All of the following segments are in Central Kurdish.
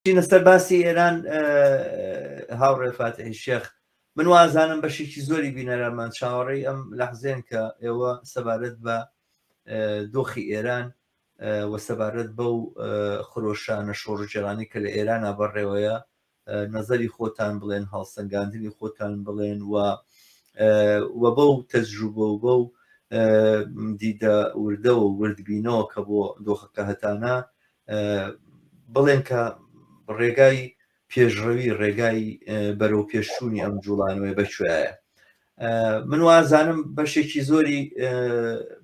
چینە سەر باسی ئێران هاوڕێ فاتحی شێخ من وازانم بەشێکی زۆری بینەرانمان چاوەڕێی ئەم لەحزێن کە ئێوە سەبارەت بە دۆخی ئێران و سەبارەت بەو خرۆشانە شۆڕجێرانی کە لە ئێرانە بەڕێوەیە نظری خۆتان بڵێن هەڵسەنگاندنی خۆتان بڵێن و و بەو تەجروبە و بەو دیدە وردەوە وردبینەوە کە بۆ دۆخەکە هەتانە بڵێن کە ڕێگای پێشڕەوی ڕێگای بەرەو پێشچوونی ئەم جوڵانەوەی بەکوێایە من وازانم بەشێکی زۆری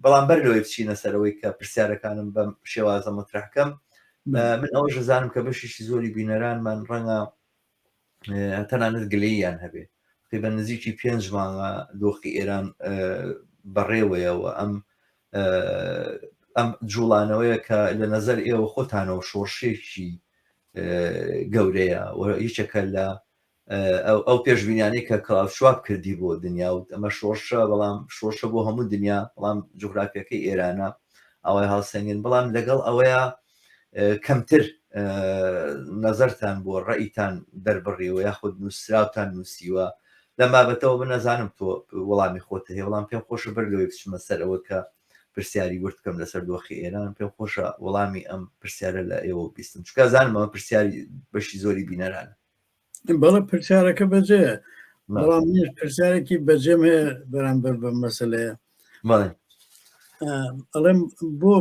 بەڵام بەر لەوەی بچینە سەرەوەی کە پرسیارەکانم بەم شێوازە مطرحکەم من ئەوە ژزانم کە بەشێکی زۆری بینەرانمان ڕەنگە تەنانەت گلەییان هەبێ تقریبا نزیکی پێنج مانگە دۆخی ئێران بەڕێوەیەوە ئەم ئەم جوڵانەوەیە کە لە نظر ئێوە خۆتانەوە شۆڕشێکی گەورەیە یەکێکە لە ئەو پێشبینیانەی کە کاوشواب کردی بۆ دنیا و ئەمە شۆرشە بەڵام شۆرشە بۆ هەموو دنیا بەڵام جوگرافیەکەی ئێرانە ئەوەی هاوسەنگن بەڵام لەگەڵ ئەوەیە کەمتر نەزەرتان بۆ ڕئیتان دەربڕیوە یاخود نووسراوتان نووسیوە لەم بابەتەوە من نەزانم تۆ وەڵامی خۆتە هەیە وەڵام پێم خۆشە بەر لەوەی بچمە سەر ئەوە کە پرسیاری ورد بکەم لەسەر دۆخی ئێران پێم خۆشە وەڵامی ئەم پرسیارە لە ئێوە بیستم چکە زانمەوە پرسیاری بەشی زۆری بینەرانە بەڵە پرسیارەکە بەجێە بەڵام پرسیارێکی بەجێم هەیە بەرامبەر بە مەسلەیە ئەڵێم بۆ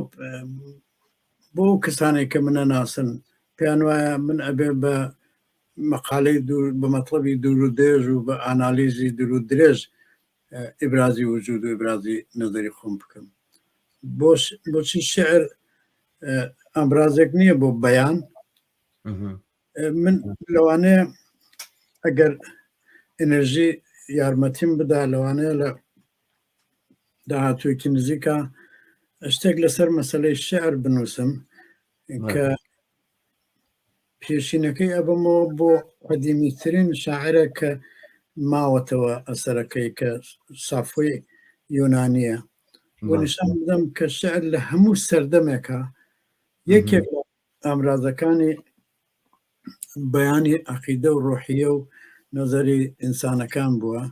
بۆ کەسانێک کە منە ناسن پێیان وایە من ئەبێ بە مەقالەی بە مەطلبی دوور و درێژ و بە ئانالیزی دوور و درێژ ئیبرازی وجود و ئیبرازی نظری خۆم بکەم بۆش بۆچی شعر ئەمرازێک نییە بۆ بەیان من لەوانەیە ئەگەر ئەنرژی یارمەتیم بدا لەوانەیە لە داهاتوویەکی نزیکە شتێک لەسەر مەسلەی شعر بنووسم کە پێشینەکەی ئەبمەوە بۆ قەدیمیترین شاعرە کە ماوەتەوە ئەسەرەکەی کە سافۆی یۆنانیە وەنیشان بدەم کە شعر لە هەموو سەردەمێکە یەکێک ئامرازەکانی بەیانی عقیدە و ڕۆحیە و نەزەری ئینسانەکان بووە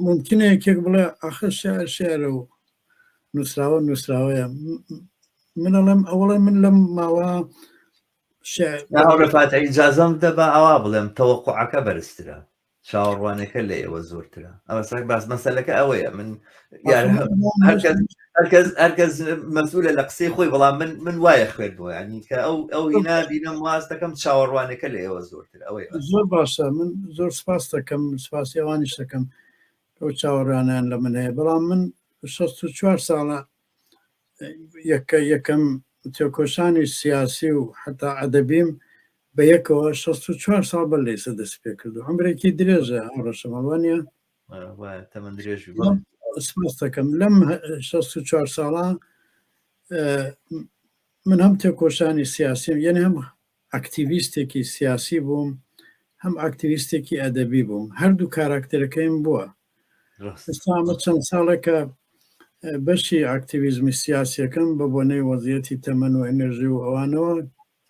ممکنە یەکێک بڵێ ئاخر شعر شعرە و نووسراوە نووسراوەیە من ئەڵێم ئەوڵێ من لەم ماوە شعر ئەوڕفاتە ئیجازەم دەبا ئەوا بڵێم تەوەقعەکە بەرزترە چاوەڕوانەکە لە ئێوە زۆرترە ئەوەسەر باس مەسەلەکە ئەوەیە من هەرکەس مەسولە لە قسەی خۆی بەڵام من من وایە خوێت بۆ ینی کە ئەو ئەو هینا بینم واز دەکەم چاوەڕوانەکە لە ئێوە زۆرتر ئەوەی زۆر باشە من زۆر سپاس دەکەم سپاسی ئەوانیش دەکەم ئەو چاوەڕانیان لە من هەیە بەڵام من 64 ساڵە یەکە یەکەم تێکۆشانی سیاسی و حتا ئەدەبیم بە یەکەوە شەست و چوار ساڵ بەر لە ئیسە دەسی پێ کردوە عەمرێکی درێژە ئەو ڕەشەمەڵ وانیە وایە تەمەن درێژ بی بەڵێ سپاس دەکەم لەم هە- شەست و چوار ساڵە اه، من هەم تێکۆشانی سیاسیم یعنی هەم ئەکتیویستێکی سیاسی بووم هەم ئەکتیویستێکی ئەدەبی بووم هەردوو کاراکتەرەکەیم بووە ڕاست ئێستا ئەمە چەند ساڵێکە اه، بەشی ئەکتیویزمی سیاسیەکەم بە بۆنەی وەزیەتی تەمەن و ئەنرژی و ئەوانەوە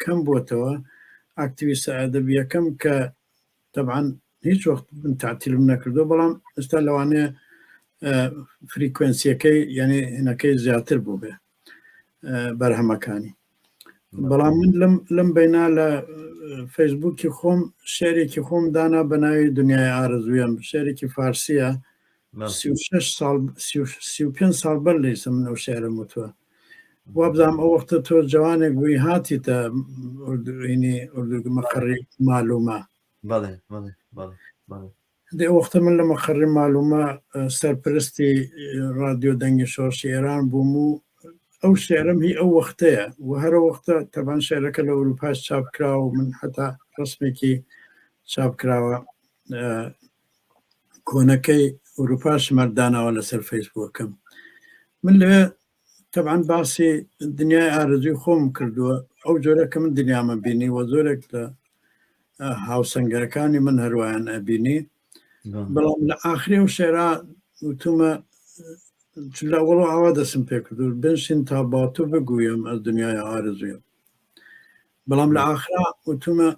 کەم بۆتەوە ئاکتیویستە ئەدەبیەکەم کە تەبعەن هیچ وەخت من تعتیلم نەکردو بەڵام ئستا لەوانەیە فریکوێنسیەکەی یعنی هەنەکەی زیاتر بوو بێ بەرهەمەکانی بەڵام من لەم لەم بینا لە فەیسبووکی خۆم شعرێکی خۆم دانا بە ناوی دنیای ئارزویم شعرێکی فارسیە سی و شەش ساڵ سی و پێنج ساڵ بەر لەیسە من ئەو شعرم وتووە وابزانم ئەو وەختە تۆ جوانێک بووی هاتیتە ئینی ئوردوگە مەقڕی معلومە بەڵێ بەڵێ بەڵێ بەڵێ دێ وەختە من لە مەقڕی معلومە سەرپرستی رادیۆ دەنگی شۆڕشی ئێران بووم و ئەو شعرم هی ئەو وەختەیە و هەرە وەختە تەبان شعرەکە لە ئەوروپاش چاپکرا و من هەتا ڕسمێکی چاپکراوە کۆنەکەی ئەوروپاش مەردانەوە لەسەر فەیسبووەکەم من لەوێ طبعا باسی دنیای ئارزوی خۆم کردووە ئەو جۆرە کە من دنیامە بینی وە زۆرێک لە هاوسەنگەرەکانی من هەروایان ئەبینی بەڵام لە ئاخری و شێرا وتومە چلا وەڵۆ ئاوا دەسم پێ کردو بنشین تا باتۆ بگویم ئە دنیای ئارزویم بەڵام لە ئاخرا وتومە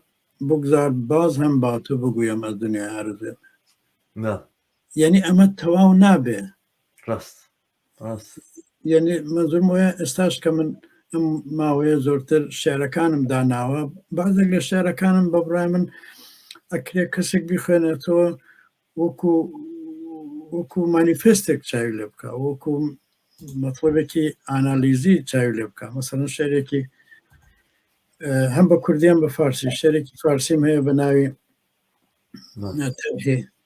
بگذار باز هەم با تو بگویم از دنیا عرضیم نا یعنی ئەمە تەواو نابێ ڕاست ڕاست یعنی منزم وە ئێستاش کە من ئەم ماوەیە زۆرتر شعرەکانم داناوە بازێک لە شعرەکانم بە بڕای من ئەکرێ کەسێک بخوێنێتەوە وەکو وەکو مانیفستێک چاوی لێ بکە وەکو مەطلبێکی ئانالیزی چاوی لێ بکە مەسەن شعرێکی هەم بە کوردیان بە فارسی شعرێکی فارسیم هەیە بە ناوی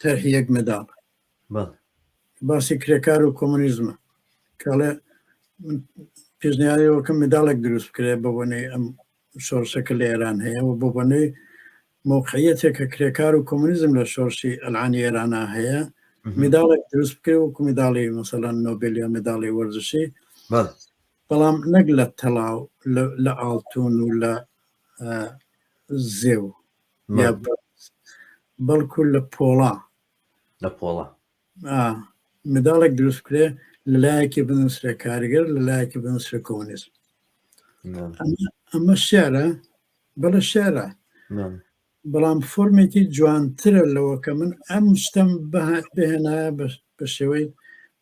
تەرهی یەک مەداڵ باسی کرێکار و کۆمونیزمە کاڵێ پێشنیارەوەکە مداڵێک دروست بکرێت بە بۆنەی ئەم شۆڕشەکە لە ئێران هەیە و بۆ بەنوێ موقعیەتێکە کرێکار و کۆمونیزم لە شۆڕشی ئەلعانی ئێرانا هەیە مداڵێک دروست بکرێ وەکو مداڵی مەسەلەن نۆبل یا مداڵی وەرزشی بەڵام نەک لە تەڵاو لە ئاڵتون و لە زێو بەڵکو لە پۆڵا لە پۆڵا منداڵێک دروست بکرێ لە لایەکی بنووسرە کارگەر لە لایەکی بنووسرە کۆنیست ئەمە شعرە بەڵە شعرە بەڵام فۆرمێکی جوانترە لەوە کە من ئەم شتم بەهات بهێنا بە شێوەی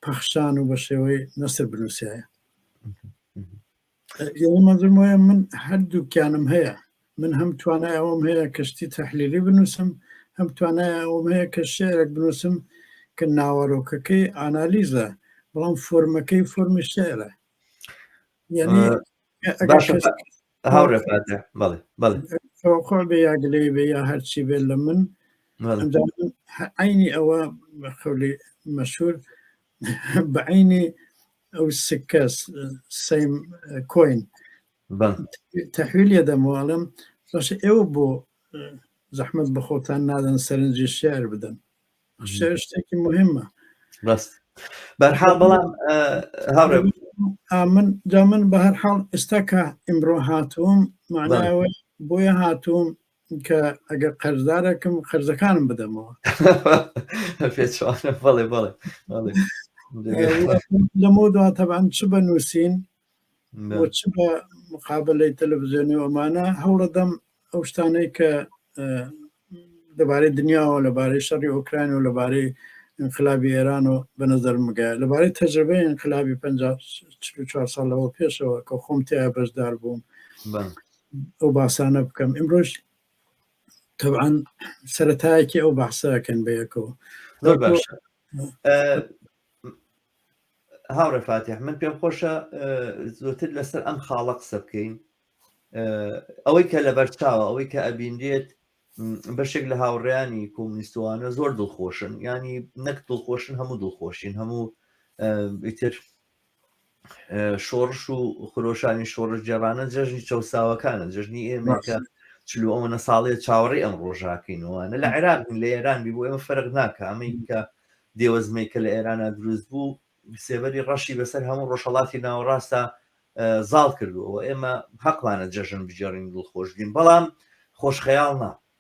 پەخشان و بە شێوەی نەسر بنووسایە مەزم وایە من هەردووکیانم هەیە من هەم توانای ئەوم هەیە کەشتی تەحلیلی بنووسم هەم توانای ئەوم هەیە کە شعرێک بنووسم کە ناوەرۆکەکەی ئانالیزە بەڵام فۆرمەکەی فۆرمی شعرە یعنی هاوڕێفاتە بەڵێ بەڵێ خۆ بێ یاگلەی بێ یا هەرچی بێ لە من عینی ئەوە خەولی مەشهور بە عینی ئەو سکە سەیم کۆین تحویل یەدەم واڵم بەش ئێوە بۆ زەحمت بەخۆتان نادەن سەرنجی شار بدەن شتێکی مهمە بەست بەرحاڵ بەڵام هاڕێ من جا من بە هەر حاڵ ئێستا کە ئیمڕۆ هاتووم معناوە بۆیە هاتووم کە ئەگەر قەرزدارەکەم قەرزەکانم بدەمەوە بەڵێ بەڵێ لەمە دوا تەبان چ بە نووسین چ بە مقابلەی تەلەڤزیۆنی ئەمانە هەوڵەدەم ئەو شتانەی کە لەبارەی دنیاوە لەبارەی شەڕی ئۆکراین و لەبارەی انقلابی ئێران و بە نظرمگە لەبارەی تەجربەی انقلابی 54 ساڵەوە پێشەوە کە خۆم تیا بەشدار بووم ئەو باسانە بکەم ئمرۆژ تەعاان سەتایەکی ئەو باسەکەن بەیەکەوە هاوڕێ فاتح من پێم خۆشە زۆتر لەسەر ئەم خاڵە قسە بکەین ئەوەی کە لە بەرچاوە ئەوەی کە ئەبینرێت بەشێک لە هاوڕیانی کۆمنیستوانە زۆر دڵخۆشن ینی نەک دڵخۆشن هەموو دڵخۆشین هەموو ئیتر شۆڕش و خرۆشانی شۆڕش جێبانە جەژنی چەساوەکانە جژنی ئێمەکە چلو ئەوەنە ساڵێ چاوەڕی ئەم ڕۆژاکەینەوەوانە لە عێراق لە ئێران بی بۆ ئێمە فەرق ناکە ئەمریکا دێوەزمەی کە لە ئێرانە دروست بوو سێبەری ڕەشی بەسەر هەموو ڕۆژهڵاتی ناوەڕاستە زاڵ کردوەوە ئێمە حەقمانە جەژن بجێڕین دڵخۆش بین بەڵام خۆشخەیاڵ نا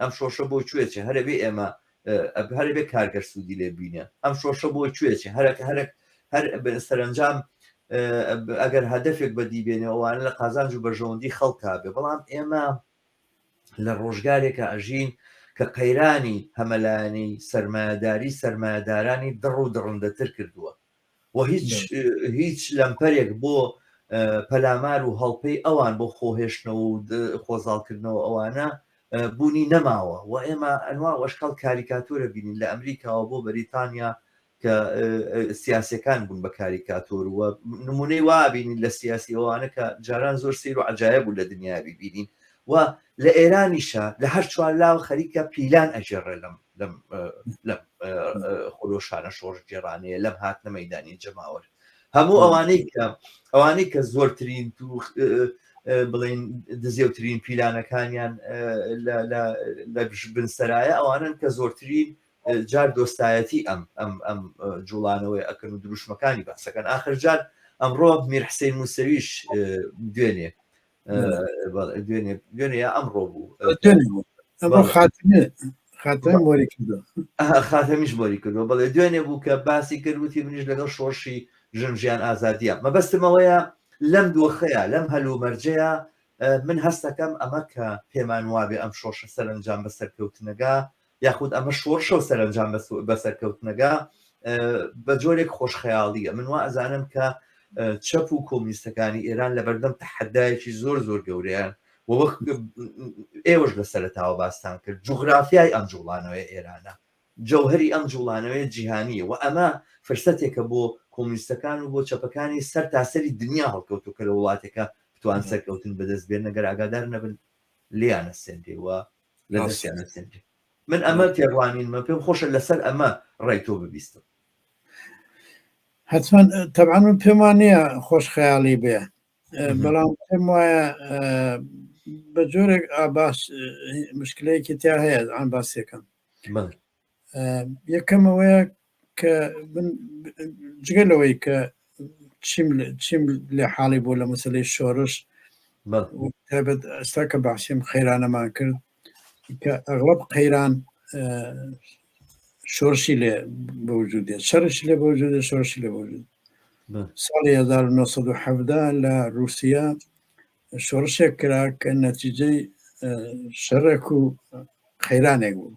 ئەم شۆشە بۆ کوێ چێ هەرە بێ ئێمە ئەب هەرە بێ کارگەر سوودی لێ بینێ ئەم شۆشە بۆ کوێ چێ هەرەکە هەرەک هەر سەرنجام ئەگەر هەدەفێک بەدی بێنێ ئەوانە لە قازانج و بەژەوەندی خەڵکا بێ بەڵام ئێمە لە ڕۆژگارێکە ئەژین کە قەیرانی هەمەلایەنەی سەرمایەداری سەرمایەدارانی دڕ و دڕندەتر کردووە و هیچ هیچ لەمپەرێک بۆ پەلامار و هەڵپەی ئەوان بۆ خۆهێشتنەوە و خۆزاڵکردنەوە ئەوانە بوونی نەماوە و ئێمە ئەنوا ئەشکال کاریکاتۆرە بینین لە ئەمریکاوە بۆ بەریتانیا کە سیاسەکان بوون بە کاریکاتۆر وە نمونەی وابینین لە سیاسی ئەوانە کە جاران زۆر سیر و عجاە بوو لە دنیا ببینین و لە ئێرانیشە لە هەر چوار لاوە خەریکە پیلان ئەژێڕێ لەم لەم لەم خۆلۆشانە شۆڕش گێڕانەیە لەم هاتنە مەدانی جەماوەر هەموو ئەوانەی کە ئەوانەی کە زۆرترین تو بڵین دزێوترین پیلانەکانیان لە بنسەرایە ئەوانن کە زۆرترین جار دۆستایەتی ئەم ئەم ئەم جوڵانەوەی ئەکرد و دروشمەکانی باسەکەن ئاخرجار ئەمڕۆ میرحسین موسەویش دوێنێ دوێنێ دوێنێ یا ئەمڕۆ بوو خاتەم مۆری کردو خاتەمیش مۆری کردو بەڵێ دوێنێ بوو کە باسی کرد وتی منیش لەگەڵ شۆشی ژن ژیان ئازادیە مەبەستمەوەیە لەم دۆخەیە لەم هەلومەرجەیە من هەستەکەم ئەمە کە پێمان وابێ ئەم شۆشە سەرنجام بە سەرکەوتنەگا یاخود ئەمە شۆڕشە و سەرەنجام بە سەرکەوتنەگا بە جۆرێک خۆشخەیاڵیە من وا ئەزانم کە چەپ و کۆمیستەکانی ئێران لە بەردەم تەحەدایەکی زۆر زۆر گەورەیان و وەک ئێوەش لە سەرتاوە باستان کرد جوغرافیای ئەم جوڵانەوەی ئێرانە جەوهری ئەم جوڵانەوەی جیهانیە و ئەمە فرسەتێکە بۆ کۆمیستەکان و بۆ چەپەکانی سەر تاسەری دنیا هەڵکەوت و کە لە وڵاتەکە بتوان سەرکەوتن بەدەست بێن نەگەر ئاگادار نەبن لیانە سندێ و لە دەستیان ئەسێنرێ من ئەمە تێڕوانینمە پێم خۆشە لەسەر ئەمە ڕای تۆ ببیستم حتمما تەبان من پێم وانەیە خۆش خەیاڵی بێ بەڵام پێم وایە بە جۆرێک ئاباس مشکلەیەکی تیا هەیە ئەم باسێکم یەکەم ئەوەیە کە جگە لەوەی کە چیم لە حاڵی بۆ لە مەسلەی شۆرش تابەت ئەستا کە باسیم خەیرانەمان کرد کە ئەغڵب قەیران شۆرشی لێ بەوجود دێت شەرش لێ بەوجود شۆرشی لێ بەوجود ساڵی 1970 لە رووسیا شۆڕشێک کرا کە نەتیجەی شەرەک و خەیرانێک بوو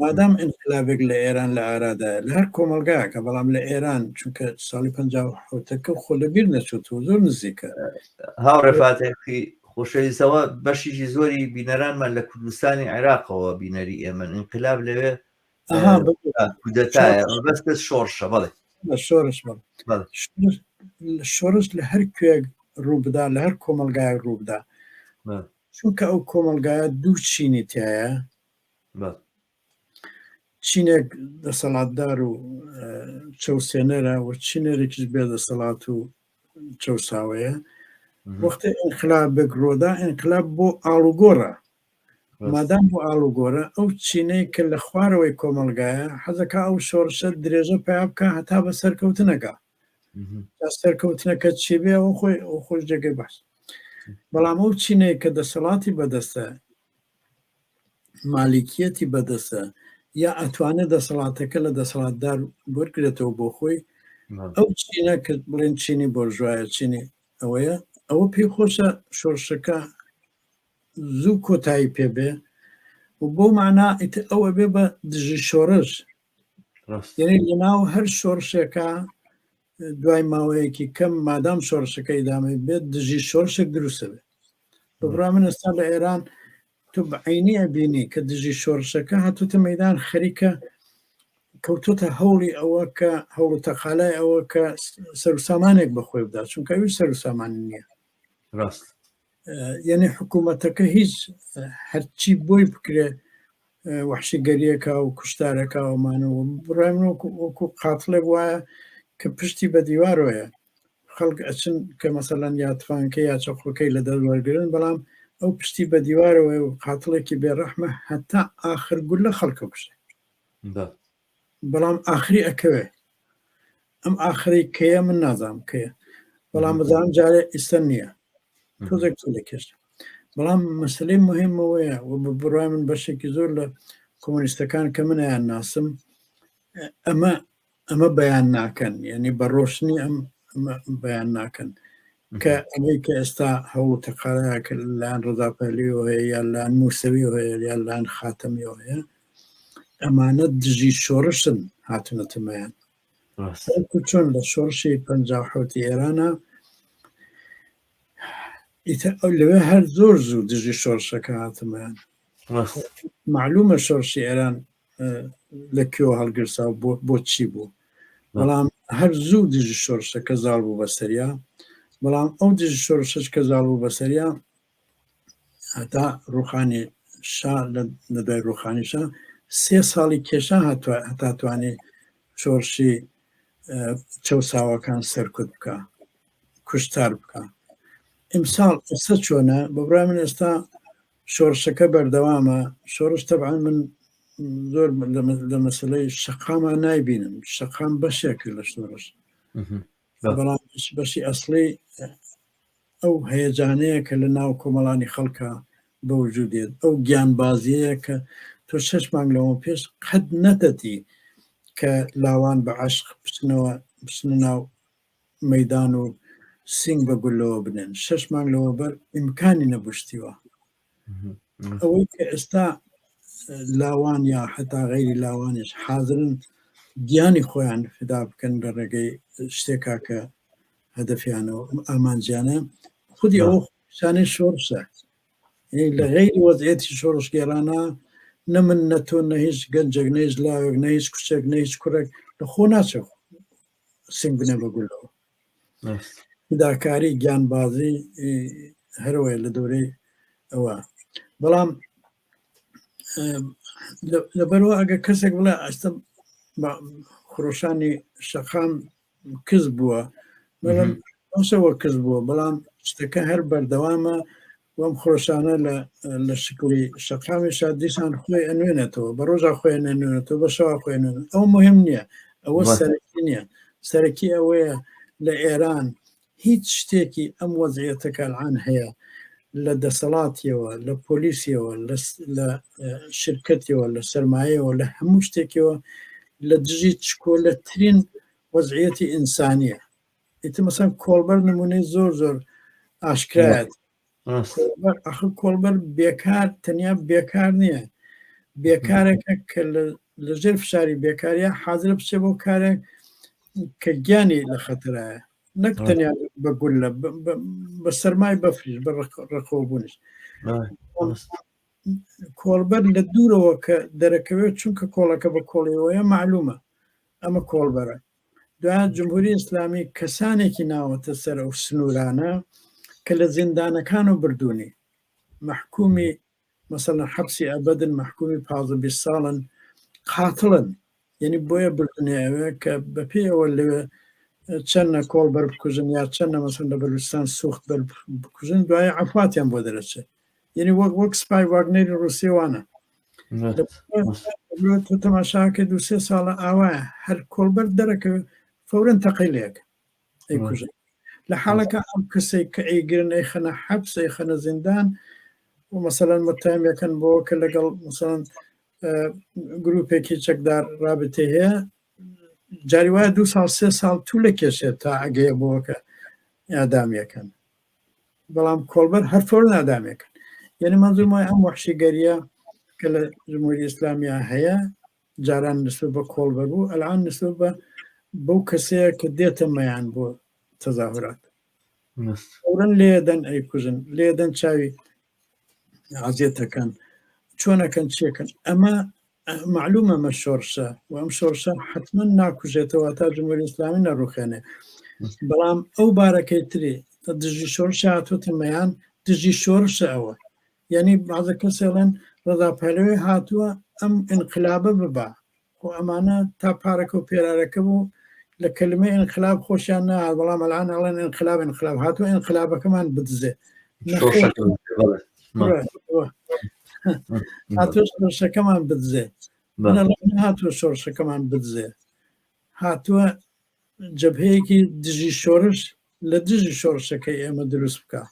مادام ئینقلابێک لە ئێران لە ئارادا لە هەر کۆمەلگاکە بەڵام لە ئێران چونکە ساڵی پەکە خۆ لەبیر نەچوت و زۆر نزیکە هاوڕێفاتێکی خۆشەویستەوە بەشیشی زۆری بینەرانمان لە کوردستانی عێراقەوە بینەری ئێمن ئینقلاب لەوێ کودەتایە بەست شۆڕشە بڵێ شۆرش شۆرش لە هەر کوێک ڕووبدا لە هەر کۆمەلگای ڕووبدا چونکە ئەو کۆمەڵگایە دوو چینی تایە چینێک دەسەڵاتدار و چەوسێنەرە و چینەرێکیش بێ دەسەڵات و چەساوەیە وەختە ئینقلاب بێک ڕۆدا ئینقلاب بۆ ئاڵوگۆڕە مادام بۆ ئاڵوگۆرە ئەو چینەی کە لە خوارەوەی کۆمەلگایە حەزەکە ئەو شۆڕشە درێژە پیا بکە هەتا بە سەرکەوتنەکە سەرکەوتنەکە چی بێ ئەو خۆی ئەو خۆش جێگەی باش بەڵام ئەو چینەیە کە دەسەڵاتی بەدەستە مالیکیەتی بەدەستە یا ئەتوانێت دەسەڵاتەکە لە دەسەڵاتدار وەرگێتەوە بۆ خۆی ئەو چینە کە بڵێن چینی بۆرژواایە چینی ئەوەیە ئەوە پێی خۆشە شۆرشەکە زوو کۆتایی پێبێ و بۆ معنا ئەوە بێ بە دژی شۆرش یعنی لەناو هەر شۆڕشێکا دوای ماوەیەکی کەم مادام شۆڕشەکە ئیدامە بێت دژی شۆرشێک دروستە بێت بڕا من ئێستا لە ئێران تو عینی بینی کە دژی شۆرشەکە هاتوتە مەدان خەریکە کەوتوتە هەوڵی ئەوە کە هەوڵ تەقالای ئەوە کە سەرسامانێک بەخۆی بدا چونکە ئەوی سەرسامان نییە ڕاست یعنی حکوومەتەکە هیچ هەرچی بۆی بکرێ وحشیگەریەکە و کوشتارەکە ئەومانەوە بڕێن وەکو قاتڵێ وایە کە پشتی بە دیوارۆیە خەڵک ئەچن کە مەسەلەن یاتفانکە یا چەقۆکەی لە دەست وەرگن بەڵام ئەو پشتی بە دیوارەوەی و قاتڵێکی بێڕەحمە هەتا ئاخر گول لە خەڵکە کوشێ بەڵام ئاخری ئەکەوێ ئەم ئاخری کەیە من نازانم کەیە بەڵام بزانام جارێ ئیستا نییە تۆزێک لە کێشت بەڵام مەسلەی مهمەوەیە و بە بڕای من بەشێکی زۆر لە کۆمۆنیستەکان کە منیان ناسم ئەمە ئەمە بەیان ناکەن یعنی بە ڕۆشنی ئەم بەیان ناکەن کە ئەمەی کە ئێستا هەوڵ تەقاەکە لایەن ڕزاپەلیەوە هەیە یا لایەن مووسەوی هەیە یا لایەن خاتەمیەوە هەیە ئەمانە دژی شۆڕشن هاتونەتە مایان چۆن لە شۆڕشی پ حوتی ئێرانە ئیتە ئەو لەوێ هەر زۆر زوو دژی شۆڕشەکە هاتمان معلومە شۆڕشی ئێران لە کێوە هەڵگرسا بۆ بۆچی بوو بەڵام هەر زوو دژی شۆڕشەکە زاڵ بوو بەسەریا بەڵام ئەو دژی شۆڕشش کە زاڵ بوو بەسەریا هەتا ڕوخانی شا لە دوای ڕوخانی شا سێ ساڵی کێشا هەتا توانێ شۆڕشی چەساوەکان سەرکوت بکە کوشتار بکە ئیمساڵ ئێستا چۆنە بەبرای من ئێستا شۆڕشەکە بەردەوامە شۆڕش تەبعا من زۆر لە مەسلەی شەقامان نایبینم شەقام بەشێک لە شۆڕش بەڵام بەشی ئەسڵی ئەو هەیەجانەیە کە لە ناو کۆمەڵانی خەڵکە بە وجود دێت ئەو گیانبازیەیە کە تۆ شش مانگ لەوە پێش قەت نەتەتی کە لاوان بە عشق بچنەوە بچنە ناو مەدان و سنگ بە گولەوە بنێن شش مانگ لەوە بەر ئیمکانی نەبشتیوە ئەوەی کە ئێستا لاوان یا حتا غیری لاوانش حاضرن گیانی خۆیان فدا بکەن لە ڕێگەی شتێکا کە هەدەفیانەوە ئامانجیانە خودی ئەو شانەی شۆرشە لە غیری وەزعێتی شۆڕشگێرانە نە من نە تۆ نە هیچ گەنجێک نەیش لاوێک نە هیچ کوچێک نە هیچ کوڕێک لە خۆ ناچێت سنگ بنێ بە گولەوە داکاری گیانبازی هەروەیە لە دورەی ئەوە بەڵام لەبەرەوە ئەگە کەسێک بڵێ ئەستم خرۆشانی شەقام کز بووە بەڵام ئەوسەوە کز بووە بەڵام شتەکە هەر بەردەوامە بەم خرۆشانە لە لە شکڵی شەقامێشا دیسان خۆی ئەنوێنێتەوە بە ڕۆژا خۆیان نەنوێنێتەوە بە شەوا خۆێن ئەو مهم نییە ئەوە وە. سەرەکی نییە سەرەکی ئەوەیە لە ئێران هیچ شتێکی ئەم وەزعیەتە کە الان هەیە لە دەسەڵاتیەوە لە پۆلیسیەوە لە س- لە اه، شرکەتیەوە لە سەرمایەوە لە هەموو شتێکەوە لە دژی چکۆلەترین وەزعیەتی ئینسانیە ئیتر مەسەن کۆڵبەر نمونەی زۆر زۆر ئاشکرایەت ئەخ کۆڵبەر بێکار تەنیا بێکار نییە بێکارێکە کە لە ژێر فشاری بێکاریە حاضرە بچێ بۆ کارێک کە گیانی لە خەتەرایە نەک تەنیا بە گول لە بە سەرمای بەفریش بە ڕقۆبوونش کۆڵبەر لە دوورەوە کە دەرەکەوێت چونکە کۆڵەکە بە کۆڵیەوەیە معلومە ئەمە کۆڵبەرە دوایە جمهوری ئیسلامی کەسانێکی ناوەتە سەر ئەو سنوورانە کە لە زیندانەکان و بردوونی مەحکومی مەسەلەن حەبسی ئەبدن مەحکومی پازە بی ساڵن قاتڵن یعنی بۆیە بردنێ ئەوێ کە بەپێی ئەوە لەوێ چەندە کۆڵ بەر بکوژن یا چەندە مەسن لە بەلوستان سوخت بەر بکوژن دوای عفواتیان بۆ دەرەچێت یعنی وەک وەک سپای واگنەری ڕوسێ وانە تۆ تەماشاکە دو سێ ساڵە ئاوایە هەر کۆڵبەر دەرەکە فورن تەقی لێک ئەیکوژ لە حاڵەکە ئەم کەسێک کە ئەیگرن ئەی خەنە حەبس ئەی خەنە زیندان و مەسەەن متهمەکەن بۆ کە لەگەڵ مەسەن گروپێکی چەکدار رابطێ هەیە جاری وایە دو ساڵ سێ ساڵ تو لە کێشێت تا ئەگەیە بۆکە یادامیەکەن بەڵام کۆڵبەر هەر تۆر نادامێکن یعنی منظور مای ئەم وحشیگەریە کە لە جمهوری ئیسلامیا هەیە جاران نسبت بە کۆڵبەر بوو ئەلان نسبت بە بەو کەسەیە کە دێتە مەیان بۆ تەزاهورات ئەورن لێدەن ئەیکوژن لێدەن چاوی عزیێتەکەن چۆنەکەن چێکن ئەمە معلوم ئەمە شۆرشە و ئەم شۆرشە حتمما ناکوژێتەوە تا جمهوری ئسلامی نەڕوخێنێ بەڵام ئەو بارەکەی تری دژی شۆرش هاتوتمەیان دژی شۆرشە ئەوە یعنی بازە کەسێڵەن ڕزا پەلوێ هاتووە ئەم انقلابە ببا خۆ ئەمانە تا پارەکەو پێرارەکە بوو لە کەلمەی ئینقلاب خۆشیان نەهات بەڵام ئەلان ئەڵێن ئینقلاب ئینقلاب هاتوو ئینقلابەکەمان بدزێ هاتۆ شەکەمان بدزێ هاتۆ شۆرشەکەمان بدزێ هاتووە جەبهەیەکی دژی شۆرش لە دژی شۆرشەکەی ئێمە دروست بکە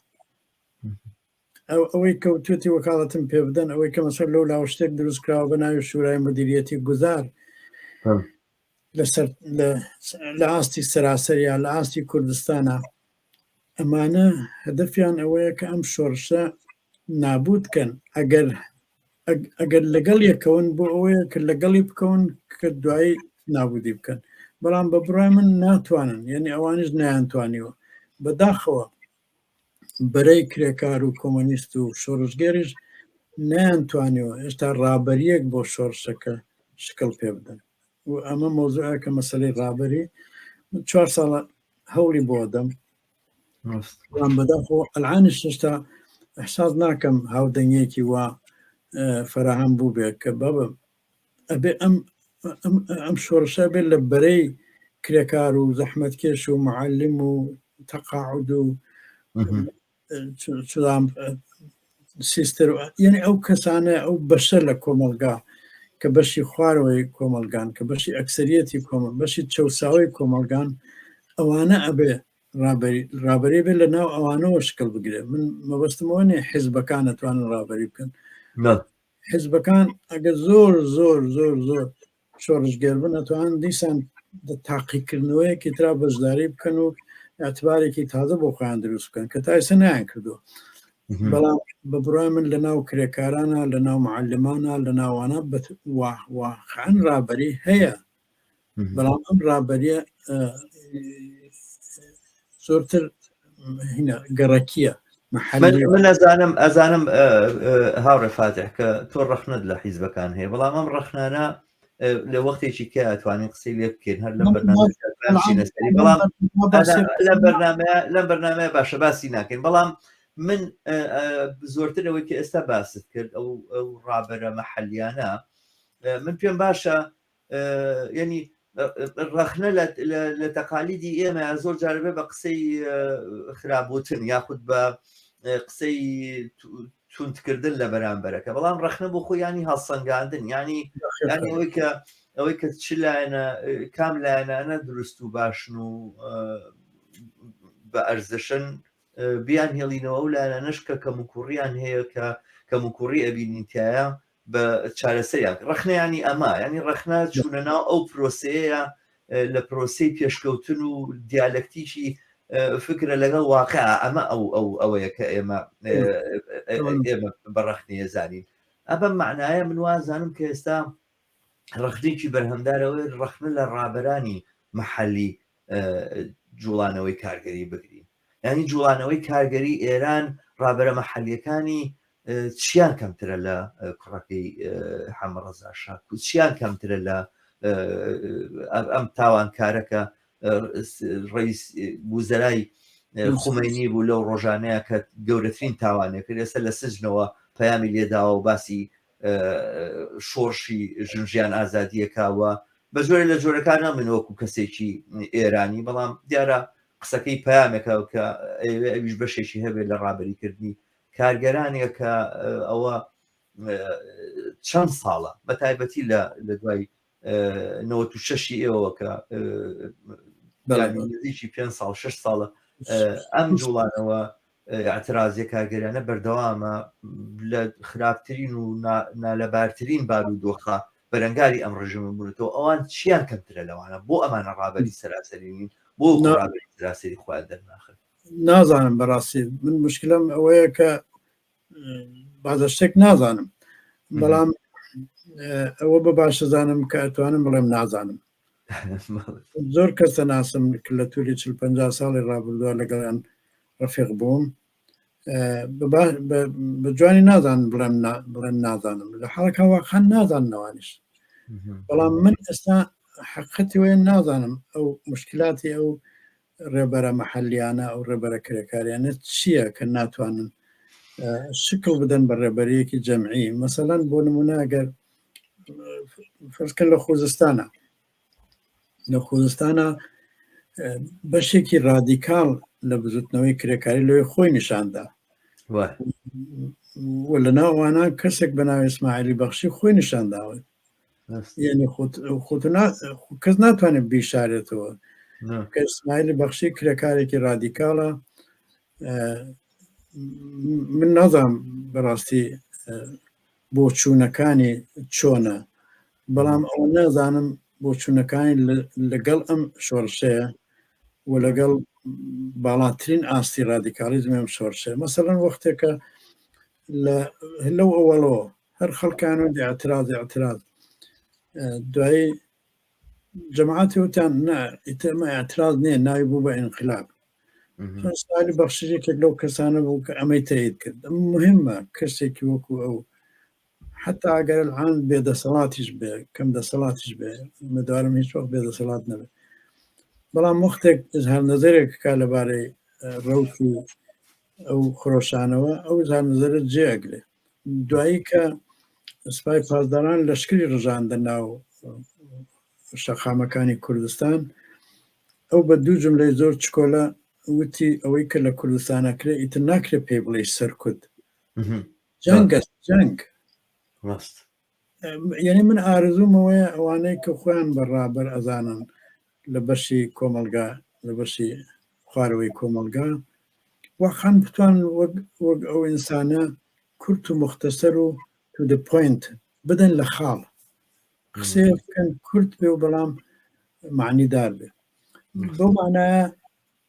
ئەوەی کەوتێتی وەکاڵەتم پێ بدەن ئەوەی کە مەسەر لەو لاوە شتێک دروست کراوە بە ناوی شورای مدیریەتی گوزار لە ئاستی سەراسەر یا لە ئاستی کوردستانە ئەمانە هەدەفیان ئەوەیە کە ئەم شۆرشە نابوت کەن ئەگەر ئەگەر لەگەڵ یەکەون بۆ ئەوەیە کە لەگەڵی بکەون کە دوایی نابودی بکەن بەڵام بە بڕای من ناتوانن یعنی ئەوانش نیانتوانیوە بەداخەوە بەرەی کرێکار و کۆمۆنیست و شۆڕشگێریش نەیانتوانیەوە ئێستا ڕابەریەک بۆ شۆڕشەکە شکڵ پێ بدەن و ئەمە مۆزوع کە مەسلەی ڕابەری چوار ساڵە هەوڵی بۆ دەم بەداخۆ ئەلعانی شتا احساس ناکەم هاودەنگێکی وا فراهەم بوو بێت کە بابە ئەبێ ئەم ئەم ئەم شۆڕشە بێت لە بەرەی کرێکار و زەحمەتکێش و معلم و تەقاعد و چلام سیستر یعنی ئەو کەسانە ئەو بەشە لە کۆمەلگا کە بەشی خوارەوەی کۆمەلگان کە بەشی ئەکسریەتی کۆمەل بەشی چەساوی کۆمەلگان ئەوانە ئەبێ ڕابری بێت لە ناو ئەوانەوە شکل بگرێت من مەبەستمەوە نێ حزبەکان ئەتوانن ڕابری بکەن حزبەکان ئەگە زۆر زۆر زۆر زۆر شۆڕشگێر بن ئەتوان دیسان تاقیکردنەوەیەکی ترا بەشداری بکەن و ئەتبارێکی تازە بۆ خۆیان دروست بکەن کە تایسە نیان کردو بەڵام بە بڕای من لە ناو کرێکارانە لە ناو معلمانە لە ناوانە بەوان ڕابەری هەیە بەڵام ئەم ڕابەریە زۆرتر گەڕەکیە من ئەزانم ئەزانم هاوڕێ فاتح کە تۆ ڕەخنت لە حیزبەکان هەیە بەڵام ئەم ڕەخنانە لە وەختێکی کە ئەتوانین قسەی لێ بکەین هەر لەم بەرنامەسەری بەڵام لە بەرنمە لەم بەرنمەیە باشە باسی ناکەین بەڵام من زۆرتر ئەوەی کە ئێستا باست کرد ئەو ڕابەرە مەحەلیانە من پێم باشە یعنی ڕەخنە لە تەقالیدی ئێمە زۆر جاربێ بە قسەی خرابوتن یاخود بە قسەی تونندکردن لە بەرامبەرەکە بەڵام ڕخنە بۆ خۆیانی هەڵسەنگاندن ینی ئەوەی کە ئەوەی کە چ لایەنە کام لایەنانە دروست و باشن و بە ئەرزشن بیان هێڵینەوە و لایەنەش کە کەم و کوڕیان هەیە کە کەم و کوڕی ئەبینینتیایە بە چارەسەریان ڕخنەیانی ئەمە ینی ڕخنە چوونە ناو ئەو پرۆسەیە لە پرۆسی پێشکەوتن و دیالەکتیکی فکرە لەگەڵ واقع ئەمە ئەو ئەو ئەوەیە کە ئێمە ئێمە بەڕخنەیە زانین ئەبە معناە من وازانم کە ئێستا ڕخنێکی بەرهەمدارەوەی ڕخنە لە ڕابەرانی محەلی جوڵانەوەی کارگەری بگرین ینی جوڵانەوەی کارگەری ئێران ڕابرە مەحلیەکانی چیان کەمترە لە کوڕەکەی حەمەڕەزا شاکو چیان کەمترە لە ئەم تاوانکارەکە ڕیس بوزەرای خومەنی بوو لەو ڕۆژانەیە کە گەورەترین تاوانێکرد ئێستا لە سجنەوە پەیامی لێداوە و باسی شۆڕشی ژن ژیان ئازادیەکەوە بە جۆرە لە جۆرەکانە من وەکو کەسێکی ئێرانی بەڵام دیارە قسەکەی پامێکە کە ئەویش بەشێکی هەبێت لە ڕابریکردنی کارگەرانێک کە ئەوە چەند ساڵە بە تایبەتی لە دوای نەوەت و شەشی ئێوە کە بەلادیکی پێ ساڵ شش ساڵە ئەم جوڵانەوە ئاعترازیە کارگەریانە بەردەوامە لە خراپترین و نالەبارترین بار و دۆخە بەرەنگاری ئەم ڕژم بوونەوە ئەوان چیان کەمترە لەوانە بۆ ئەمانە ڕابەری سەراسەرین بۆ سەراسەری خۆیان دەرناخن نازانم بەڕاستی من مشکلم ئەوەیە کە بازە شتێک نازانم بەڵام ئەوە بە باشەزانم کە ئەتوانم بڵێم نازانم زۆر کەسە ناسم لە توری چ پ ساڵی ڕابردووە لەگەڵیان ڕفێق بووم بە جوانی نازان بڵێم بڵێن نازانم لە حڵکە واخان نازانەوانش بەڵام من ئێستا حقەتی وێن نازانم ئەو مشکلاتی ئەو ڕێبەرە مەحەلیانە ئەو ڕێبەرە کرێکاریانە چییە کە ناتوانن شکل بدەن بە ڕێبەرەیەکی جەمعی مەسەلەن بۆ نمونە ئەگەر فەرزکە لە خۆزستانە لە خۆزستانە بەشێکی ڕادیکال لە بزوتنەوەی کرێکاری لەوێ خۆی نیشاندا لە ناوانە کەسێک بە ناوی ئسماعلی بەخشی خۆی نیشانداوە کەس ناتوانێت بیشارێتەوە کەسمایلی بەخشی کرێکارێکی رادیکاڵە من نازام بەڕاستی بۆ چوونەکانی چۆنە بەڵام ئەو نازانم بۆ چوونەکانی لەگەڵ ئەم شۆڕشەیە و لەگەڵ باڵاترین ئاستی رادیکالیزم ئەم شۆڕشەیە مەسەرەن وەختێکە لە هەلو ئەوەڵەوە هەر خەڵکان و ئاعتراض ئاعتراض دوای جەماعاتی وتان نا ئیتەمە ئاعتراض نییە ناوی بوو بە ئینقلاب سالی بەخشێکێک لەو کەسانە بوو کە ئەمەی تەیت کرد مهمە کەسێکی وەکو ئەو حتا ئەگەر الان بێدەسەڵاتیش بێ کەم دەسەڵاتیش بێ مەدارم هیچ وەخت بێدەسەڵات نەبێت بەڵام وەختێک هەر نظرێک کا لەبارەی ڕوت و ئەو خرۆشانەوە ئەو زان نظرە جێگرێت دوایی کە سپای پاسداران لەشکری ڕژاندە ناو شەقامەکانی کوردستان ئەو بە دوو جملەی زۆر چکۆلە وتی ئەوەی کە لە کوردستانەکرێ ئیتر ناکرێت پێی بڵێ سەرکوت جەنگە جەنگ ڕاست یعنی من ئارزووم ئەوەیە ئەوانەی کە خۆیان بە ڕابەر ئەزانن لە بەشی کۆمەلگا لە بەشی خوارەوەی کۆمەلگا وەخان بتوان وەک ئەو ئینسانە کورت و مختەسەر و تو دە پوینت بدەن لە خاڵ قسێ بکەن کورت بێ و بەڵام معنیدار بێ بەو مانایە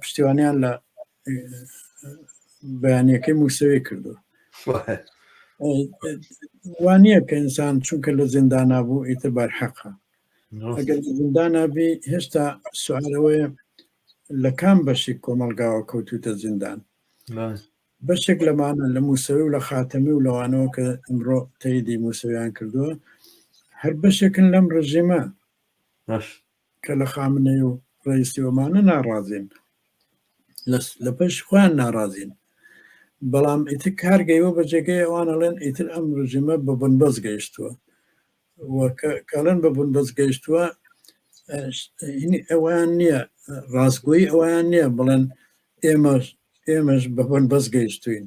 پشتیوانیان لە بەیانەکەی مووسەوی کردو وانە کە ئینسان چونکە لە زیندانا بوو ئیتر بار حەقە ئەگەر زیندانا بێ هێشتا سوارەوەیە لە کام بەشێک کۆمەلگاوە کەوتوتە زیندان بەشێک لەمانە لە مووسەوی و لە خاتەمی و لەوانەوە کە ئەمڕۆ تەیدی مووسەویان کردووە هەر بەشێکن لەم ڕژێمە کە لە خامنەی و ڕەیسی ئۆمانە ناڕازین لە پێش خۆیان ناڕازین بەڵام ئیتر کار گەیوە بە جێگەی ئەوان ئەڵێن ئیتر ئەم ڕژیمە بە بنبەست گەیشتووە کاڵێن بە بنبەست گەیشتووە ئەویان نییە ڕاستگویی ئەویان نییە بڵێن ئێمەش ئێمەش بە بنبەست گەیشتوین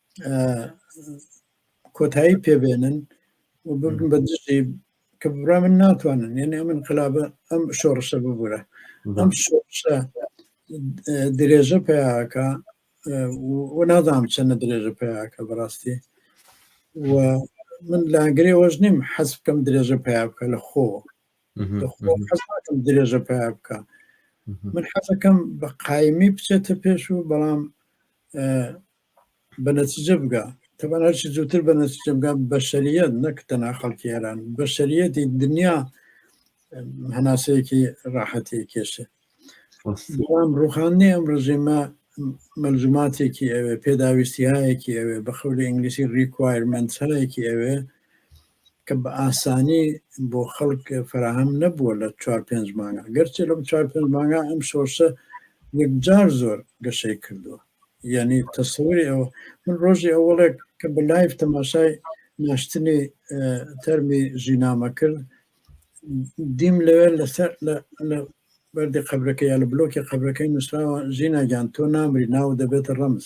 کۆتایی پێبێنن و ببن بە دژی کە ببرا من ناتوانن یعنی ئەم انقلابە ئەم شۆڕشە ببوورە ئەم شۆڕشە درێژە پیاکە و نازانم چەنە درێژە پیاکە بەڕاستی و من لاگرێ وەش نیم حەز بکەم درێژە پیا بکە لە خۆ درێژە پیا بکە من حەزەکەم بە قایمی بچێتە پێش و بەڵام بە نەتیجە بگا تەبان هەرچی زووتر بە نەتیجە بگا بەشریت نەک تەنا خەڵکی ئێران بەشریەتی دنیا هەناسەیەکی ڕاحەتی کێشێ بەڵام ڕوخاندنی ئەم ڕژێمە مەلزوماتێکی ئەوێ پێداویستیهایەکی ئەوێ بە خەولی ئینگلیسی ڕیکوایرمنتهایەکی ئەوێ کە بە ئاسانی بۆ خەڵک فەراهەم نەبووە لە چوار پێنج مانگە گەرچێ لەم چوار پێنج مانگە ئەم سۆرسە یەکجار زۆر گەشەی کردووە یعنی تەسەوری ئەوە من ڕۆژی ئەوڵێک کە بە لایف تەماشای ناشتنی تەرمی ژینامە کرد دیم لەوێ لەسەر بەردی قبلەکە یا لە بلۆکی قبلەکەی نووسراوە ژیناگیان تۆ نامری ناو دەبێتە ڕەمز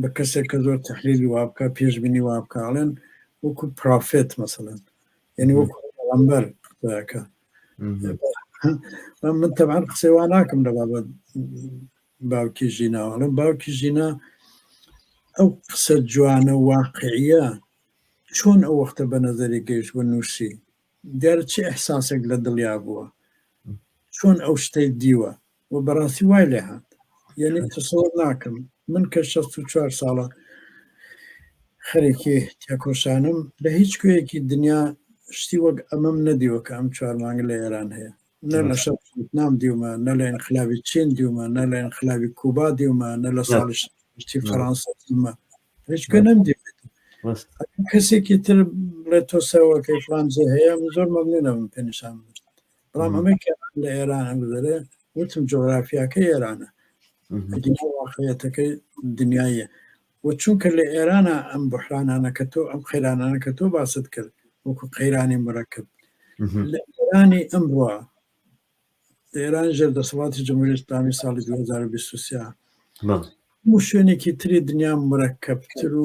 بە کەسێک کە زۆر تحلیلی وابکە پێش بینی وابکە ئەڵێن وەکو پرافێت مەسەن یعنی وەکو ئەمبەر قسەکە من تەبان قسەی وا ناکەم لە بابەت باوکی ژینا ئەڵێن باوکی ژینا ئەو قسە جوانە واقعە چۆن ئەو وەختە بە نەزەری گەیشت بە نووسی دیارە چی احساسێک لە دڵیا بووە چۆن ئەو شتەی دیوە و بەڕاستی وای لێ هات یعنی تەسەوەڕ ناکەم من کە شەست و چوار ساڵە خەرێکی تێکۆشانم لە هیچ کوێیەکی دنیا شتی وەک ئەمەم نەدیوە کە ئەم چوار مانگە لە ئێران هەیە نە لە شەر نام دیومە نە لە ئەنخلابی چین دیومە نە لە ئەنخلابی کوبا دیومە نە لە ساڵی شتی فەرانسە دیومە هیچ کوێ نەم دیوە ڕاست کەسێکی تر بڵێ تۆ سەوەکەی فلانجێ هەیە من زۆر مەمنونەوەم پێنیشان بدەیت. بەڵام ئەمەی کە لە ئێران هەڵدەرێ وتم جۆرافیاکە ئێرانە واقعەتەکەی دنیایە و چونکە لە ئێرانە ئەم بحرانانە کە تۆ ئەم قەیرانانە کە تۆ باست کرد وەکو قەیرانی مرەکب لە ئێرانی ئەمڕە لە ئێران ژێر دەسەڵاتی جمهوری ئسلامی ساڵی 2023 شوێنێکی تری دنیا مرەکەبتر و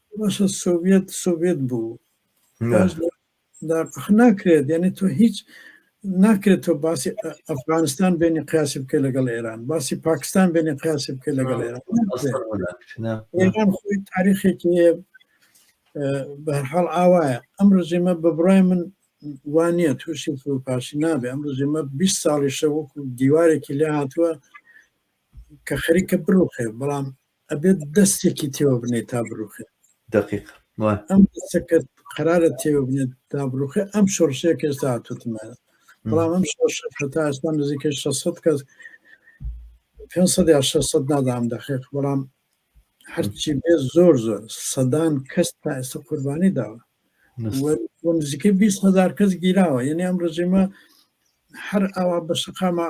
باشە سۆڤیەت سۆڤیەت بوو نا باش لە لە ئەخ ناکرێت یعنی تۆ هیچ ناکرێت تۆ باسی ئە- ئەفغانستان بێنی قیاسی بکە لەگەڵ ئێران باسی پاکستان بێنی قیاسی بکە لەگەڵ ئێران ناکرێت. ئەسڵ ناکرێت نا نا ئێران خۆی تاریخێکی هەیە اه، بە هەر حاڵ ئاوایە ئەم ڕژیمە بە بڕای من وانە تووشی فروپاشی نابێ ئەم ڕژیمە 20 ساڵیشە وەکو دیوارێکی لێ هاتووە کە خەریکە بڕوخێ بەڵام ئەبێت دەستێکی تێوە بنێ تا بڕوخێ دقیق ئەم دەستەکە قرارە تێوە بنێت تا بڕوخێ ئەم شۆڕشەیە کەستا هاتوتمانە بەڵام ئەم شۆڕشە هەتا ئێستا نزیکە 600 کەس 500 یا 600 نادام دەخێق بەڵام هەرچی بێ زۆر زۆر سەدان کەس تا ئێستا قوربانی داوە نزیکە 20 هزار کەس گیراوە یعنی ئەم ڕژیمە هەر ئاوا بە شقامە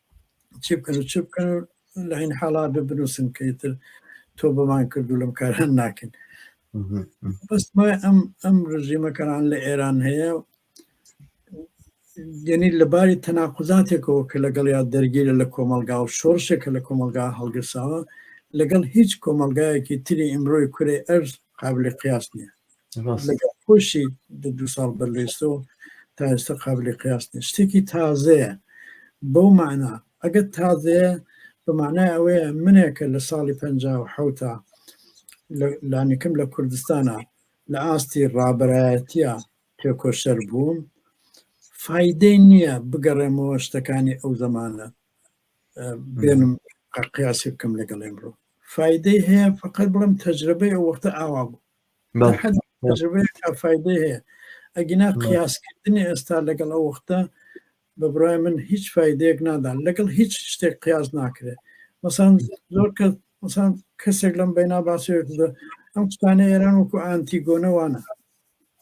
چی بکەن و چ بکەن و لە هەین حاڵا بێ بنووسن کە ئیتر تۆ بەمان کرد و لەم کاران ناکەن بەستمای ئەم ئەم ڕژیمەکەران لە ئێران هەیە یعنی لەباری تەناقزاتێکەوە کە لەگەڵ یا دەرگیرە لە کۆمەلگا و شۆرشێکە لە کۆمەلگا هەڵگرساوە لەگەڵ هیچ کۆمەلگایەکی تری ئیمرۆی کورێ ئەرز قابلی قیاس نییە خۆشی دو ساڵ بەر لێستۆ تا ئێستا قابلی قیاس نیە شتێکی تازەیە بەو معنا ئەگەر تازەیە بەمانای ئەوەیە منێکە لە ساڵی پ حوتا لانیکم لە کوردستانە لە ئاستی ڕابەرایەتە تێکۆشەر بووم فیدەی نییە بگەڕێمەوە شتەکانی ئەو زمانە بێنم قیاسی بکەم لەگەڵ ئەمڕۆ فیدەی هەیە فقط بڵم تەجربەی ئەو وەختە ئاوا بوو ئەگینا قیاسکردنی ئێستا لەگەڵ ئەو وەختە بە برای من هیچ فیدەیەک نادان لەگەڵ هیچ شتێک قیاس ناکرێت مەسان زۆر کە مەسان کەسێک لەم بەینا باسێک ئەم قوتانە ئێران وەکو ئانتیگۆنەوانە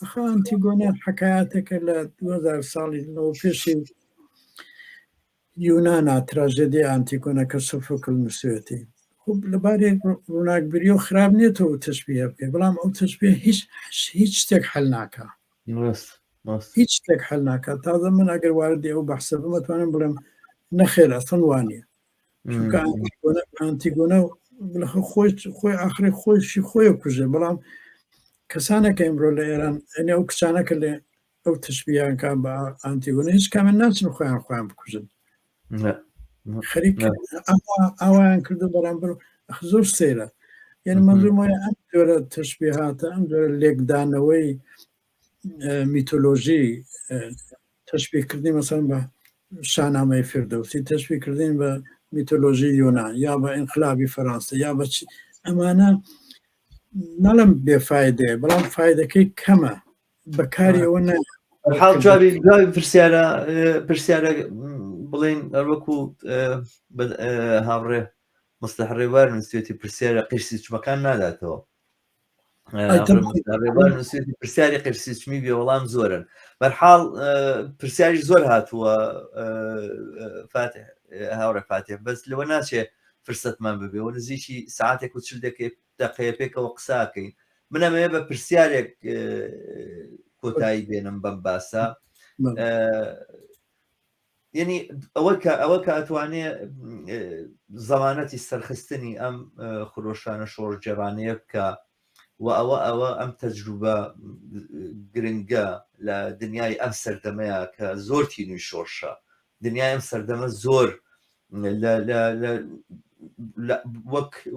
ئەخانتیگۆنە حکایەتەکە لە 2000 ساڵی لەەوە پێشی یونانا تراژێدیای ئانتیگۆنە کە سۆفۆکل نووسیوێتی. خب لەبارەی ڕووناکبیریەوە خراپ نییە تۆ تەشبیه بکەی بەڵام ئەو تەشبیه هیچ هیچ شتێک حل ناکا ڕاست ڕاست هیچ شتێک حل ناکا تازە من ئەگەر واردی ئەو بەحسە بم ئەتوانم بڵێم نەخێر ئەسڵ وانە چونکە ئانتیگۆنە ئانتیگۆنە لەخۆ خۆی خۆی ئاخری خۆیشی خۆی کوژێ بەڵام کەسانێک ئەمرۆ لە ئێران ئەنێ ئەو کچانەکە لێ ئەو تشبیان کان بە ئانتیگۆنە هیچ کامیان ناچن خۆیان خۆیان بکوژن خەریک ئاوایان کردو بەرامبەر زۆر سەیرە یعنی منزمای ئەم جۆرە تشبیهاتە ئەم جۆرە لێکدانەوەی میتۆلۆژی تشبیکردنی مەسەن بە شانامەی فردەوسی تشبیکردین بە میتۆلۆژی یۆنان یا بە ئینقلابی فەرانسە یا بە ئەمانە نەڵم بێفاایدەیە بەڵام فیدەکەی کەمە بەکاری ئەوە نە حاڵ جوابی جوابی پرسیارە پرسیارە بڵین وەکو هاوڕێ مستە ڕێوار نووسێتی پرسیارە قیرسی چمەکان ناداتەوە نووسێتی پرسیاری قیرسی چمی بێ وەڵام زۆرن بەرحاڵ پرسیاری زۆر هاتووە هاوڕێ فاتێ بەس لەوە ناچێ فرسەتمان ببێ و نزیکی ساعتێک و چل دەکەێت دەقەیە پێکەوە قساکەین من ئەمەیە بە پرسیارێک کۆتایی بێنم بەم باسە یعنی ئەوە کە ئەوە کە ئەتوانێ زەمانەتی سەرخستنی ئەم خرۆشانە شۆڕجێڕانەیە بکە و ئەوە ئەوە ئەم تەجروبە گرنگە لە دنیای ئەم سەردەمەیە کە زۆرتی نوی شۆرشە دنیای ئەم سەردەمە زۆر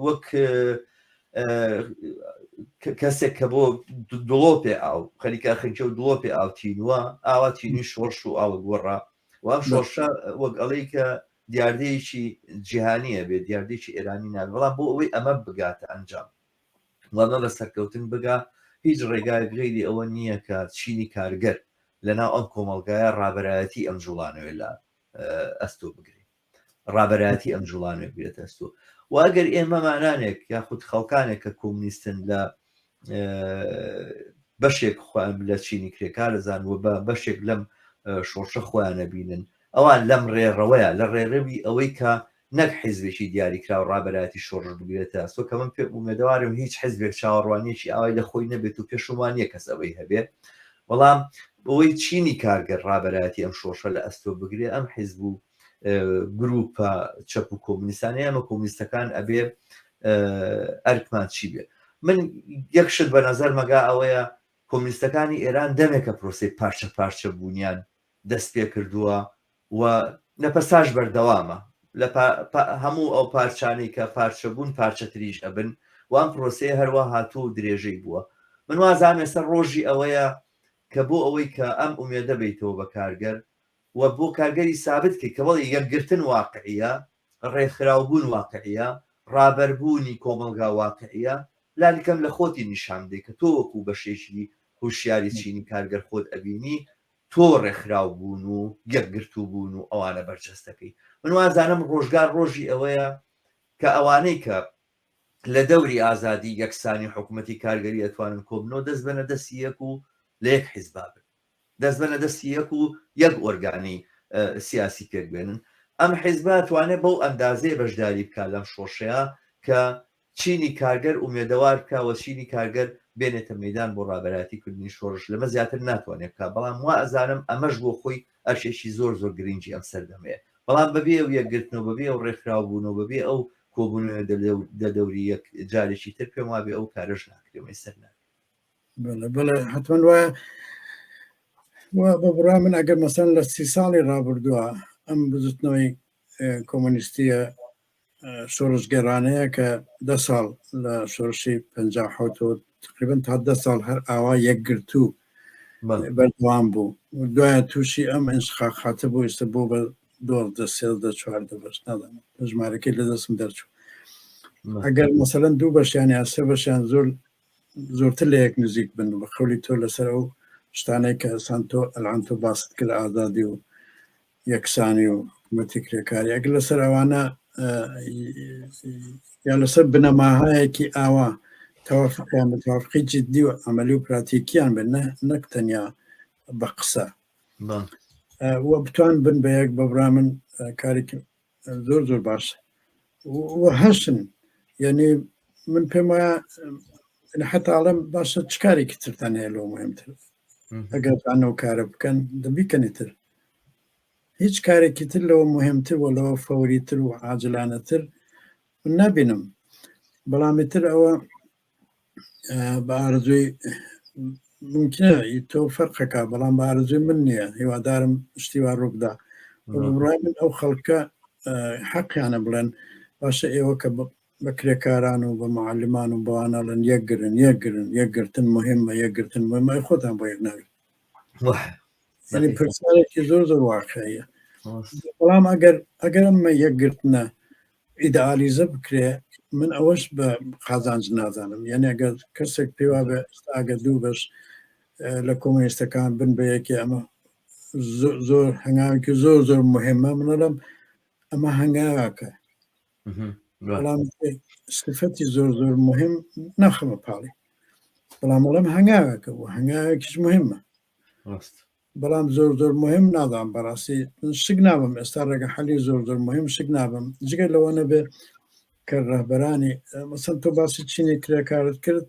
وەک کەسێک کە بۆ دڵۆپێ ئاو خەریکە خەنکە و دڵۆپێ ئاو تینوە ئاوا تینی شۆڕش و ئاوە گۆڕا و ئەم شۆڕشە وەک ئەڵەی کە دیاردەیەکی جیهانیە بێت دیاردێکی ئێرانی نابێت بەڵام بۆ ئەوەی ئەمە بگاتە ئەنجام و بە بە سەرکەوتن بگا، هیچ ڕێگایەک غەیری ئەوە نییە کە چینی کارگەر لە ناو ئەم کۆمەڵگایە ڕابەرایەتی ئەم جووڵانەوەی لە ئەستۆ بگرێ، ڕابەرایەتی ئەم جووڵانەوەی بگرێتە ئەستۆ و ئەگەر ئێمەمانانێک یاخود خەڵکانێک کە کۆمونیستن لە بەشێک خۆیان لە چینی کرێکارەزان و بە بەشێک لەم شۆڕشە خۆیانە بینن ئەوان لەم ڕێڕەوەیە لە ڕێڕەوی ئەوەی کە نەک حیزبێکی دیاریکراو ڕابەرایەتی شۆڕش بگرێتە ئەستۆ کە من پێ ئومێدەوارم هیچ حیزبێک چاوەڕوانیەکی ئاوای لە خۆی نەبێت و پێشم وا نییە کەس ئەوەی هەبێ بەڵام بەوەی چینی کارگەر ڕابەرایەتی ئەم شۆڕشە لە ئەستۆ بگرێ ئەم حیزب و گروپە چەپ و کۆمونیستانە ئەمە کۆمونیستەکان ئەبێ ئەرکمان چی بێ من یەک شت بە نەزەر مەگا ئەوەیە کۆمونیستەکانی ئێران دەمێکە پرۆسی پارچە پارچە بوونیان دەستپێکردووە و نەپەساش بەردەوامە لە هەموو ئەو پارچانەی کە پارچە بوون پارچەتریش ئەبن و ئەم پرۆسەیە هەروا هاتووە و درێژەی بووە من وازانم ئێستا ڕۆژی ئەوەیە کە بۆ ئەوەی کە ئەم ئومێدە بەیتەوە بە کارگەر و بۆ کارگەری سابت کەی کە بەڵێ یەکگرتن واقعیە ڕێکخراوبوون واقعیە ڕابەربوونی کۆمەڵگا واقعیە لانیکەم لە خۆتی نیشان بدەی کە تۆ وەکوو بەشێکی هوشیاری چینی کارگەر خۆت ئەبینی تۆ ڕێکخراو بوون و یەکگرتوو بوون و ئەوانە بەرجەستەکەی من وازانم ڕۆژگار ڕۆژی ئەوەیە کە ئەوانەی کە لە دەوری ئازادی یەکسانی حکوومەتی کارگەری ئەتوانن کۆبنەوە دەست بەە دەستی یەک و لە یەک حیزبابن دەست بەە دەستی یەک و یەک ئۆرگانی سیاسی پێکبێنن ئەم حیزبە توانێت بەو ئەندازەیە بەشداری بکە لەم شۆشەیە کە چینی کارگەر ئومێدەوار بکا و چینی کارگەر بێنێتە مەیدان بۆ ڕابەرایەتی کردنی شۆڕش، لەمە زیاتر ناتوانێ بکا، بەڵام وا ئەزانم ئەمەش بۆ خۆی ئەرکێکی زۆر زۆر گرینگی ئەم سەردەمەیە، بەڵام بەبێ ئەو یەکگرتن و بەبێ ئەو ڕێکخراو بوون و بەبێ ئەو کۆبوونەوە دە دەوری یەک جارێکی تر پێم وابێ ئەو کارەش ناکرێ و مەیسەر نابێ. بەڵێ بەڵێ حتمەن وایە وا بە بڕای من ئەگەر مەسەن لە سی ساڵی ڕابردووە ئەم بزوتنەوەی کۆمۆنیستیە شۆڕشگێڕانەیە کە دە ساڵ لە شۆڕشی پ حوتەوە تقریبن تا دە ساڵ هەر ئاوا یەکگرتوو بەردوام بوو دوایە تووشی ئەم ئەنشخا خاتە بۆ ئێستا بۆ بە دوازدە سێزدە چواردە بەش نادەم ژمارەکەی لە دەستم دەرچوو ئەگەر مەسەن دوو بەشیان یا سێ بەشیان زۆر زۆرتر لە یەک نزیک بن بە خەولی تۆ لەسەر ئەو شتانەی کە سانتۆ ئەلانتۆ باست کرد ئازادی و یەکسانی و حکوومەتی کرێکاری ئەگەر لەسەر ئەوانە یا لەسەر بنەماهایەکی ئاوا تەوافقیان بە تەوافقی جددی و ئەمەلی و پراتێکیان بن نەک تەنیا بە قسە و بتوان بن بە یەک بەبرا من کارێکی زۆر زۆر باش هەشن یعنی من پێم وایە حتاڵم باشە چ کارێکی ترتان هەیە لەو مهمتر ئەگەر ئەو کارە بکەن دەبیکەنی تر هیچ کارێکی تر لەوە مهمتر و لەوە فەوریتر و عاجلانەتر نابینم بەڵامی تر ئەوە بە ئارزوی ممکنە تۆ فەرقەکە بەڵام بە ئارزوی من نییە هیوادارم شتیوا ڕووبدا ڕای من ئەو خەڵکە حەقیانە بڵێن باشە ئێوە کە بە کرێکاران و بە معلمان و بەوانەڵن یەکگرن یەکگرن یەکگرتن مهمە یەکگرتن مهمە خۆتان بۆ یەک ناوێت ینی پرسیارێکی زۆر زۆر واقعەیە بەڵام ئەگەر ئەگەرمە یەکگرتنە ئیدئالیزە بکرێ من ئەوەش بە قازانج نازانم یعنی ئەگەر کەسێک پێوا بە ئاگە دوو بەش لە کۆمۆنیستەکان بن بە یەکی ئەمە زۆر هەنگاوێکی زۆر زۆر مهمە منەڵم ئەمە هەنگاواکە بەڵام سفەتی زۆر زۆر مهم ناخەمە پاڵی بەڵام بەڵام هەنگاوەکە و هەنگاوێکیش مهمە بەڵام زۆر زۆر موهیم نازانم بەڕاستی شک نابم ئێستا ڕێگە حەلی زۆر زۆر موهیم شک نابم جگە لەوە نەبێ کە ڕەهبەرانی مەسەن تۆ باسی چینی کرێکارت کرد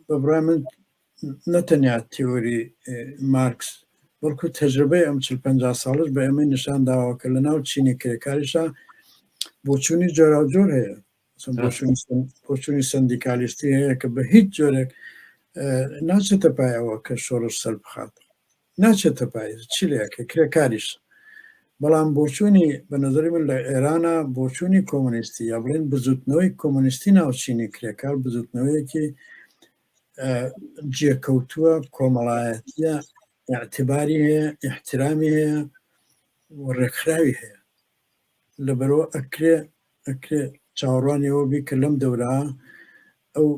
بەبڕای من نەتەنیا تیۆری مارکس بەڵکو تەجربەی ئەم چل پ ساڵش بە ئێمەی نیشان داوە کە لە ناو چینی کرێکاریشە بۆچوونی جۆراوجۆر هەیە بۆچوونی سندیکالیستی هەیە کە بە هیچ جۆرێک ناچێتە پایەوە کە شۆڕش سەر بخات ناچێتە پای چ لەکە کرێکاریش بەڵام بۆچوونی بە نظری من لە ئێرانە بۆچوونی کۆمۆنیستی یا بڵێن بزوتنەوەی کۆمۆنیستی ناوچینی کرێکار بزوتنەوەیەکی جێکەوتووە کۆمەڵایەتە اعتباری هەیە احترامی هەیە و ڕێکخراوی هەیە لەبەرئەوە ئەکرێ ئەکرێ چاوەڕوانی ئەوە بی کە لەم دەورە ئەو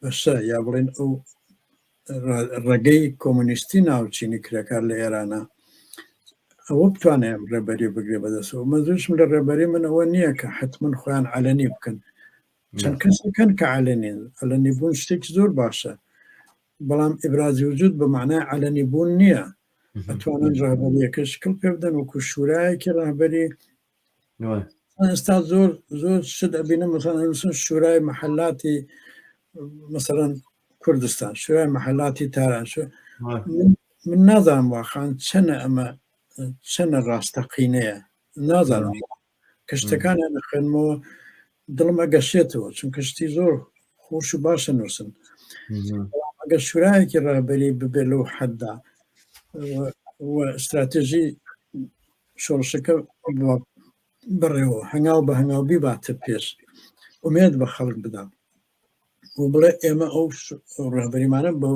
بەشە یا بڵێن ئەو ڕێگەی کۆمونیستی ناوچینی کرێکار لە ئێرانە ئەوە بتوانێ ڕێبەری بگرێ بەدەستەوە مەزوشم لە ڕێبەری من ئەوە نییە کە حتمما خۆیان علەنی بکەن چەند کەسەکەن کە علەنین علەنی بوون شتێکی زۆر باشە بەڵام ئبرازی وجود بە معنای علەنی بوون نییە ئەتوانن ڕابەریەکە شکل پێ بدەن وەکو شورایەکی ڕابەری ئێستا زۆر زۆر شت ئەبینە مەسەنسن شورای محلاتی مەسەرەن کوردستان شورای محلاتی تاران من نازانم واخان چەنە ئەمە چەنە ڕاستەقینەیە نازانم کە شتەکانیان دەخوێنمەوە دڵم ئەگەشێتەوە چونکە شتی زۆر خۆش و باشە نووسن ئەگە شورایەکی ڕابەری ببێت لەو حەددا استراتێژی شۆڕشەکە بڕێەوە هەنگاو بە هەنگاوبی باتە پێش ئومێت بە خەڵک بدەم و بڵێ ئێمە ئەو ڕهبەریمانە بە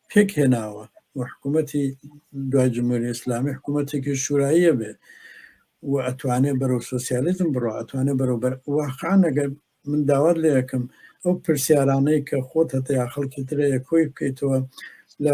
پێک هێناوە و حکوومەتی دوای جمهوری ئسلامی حکوومەتێکی شوراییە بێ و ئەتوانێ بەرەو سوسیالیزم بڕۆ ئەتوانێ بەرەو بەر واقعان ئەگەر من داوات لە یەکەم ئەو پرسیارانەی کە خۆت هەتەیا خەڵکی ترەیە کۆی بکەیتەوە لە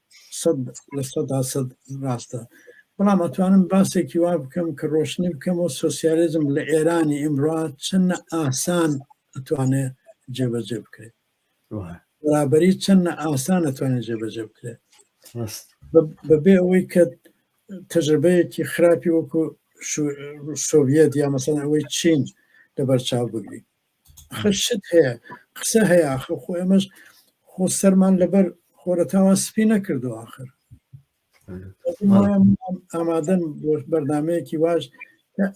سەد لە سەدا سەد ڕاستە بەڵام ئەتوانم باسێکی وا بکەم کە ڕۆشنی بکەمەوە سوسیالزم لە ئێرانی ئیمڕا چەندە ئاسان ئەتوانێت جێبەجێ بکرێت بەرابری چەندە ئاسان ئەتوانێت جێبەجێ بکرێت بەبێ ئەوەی کە تەجربەیەکی خراپی وەکو سۆڤەت یا مەسەن ئەوەی چین لەبەرچاو بگری خشت هەیە قسە هەیە ئاخر خۆ ئێمەش خۆ سەرمان لەبەر خۆرەتاوان سپی نەکردو آخر ئامادەن بۆ بەردامەیەکی واش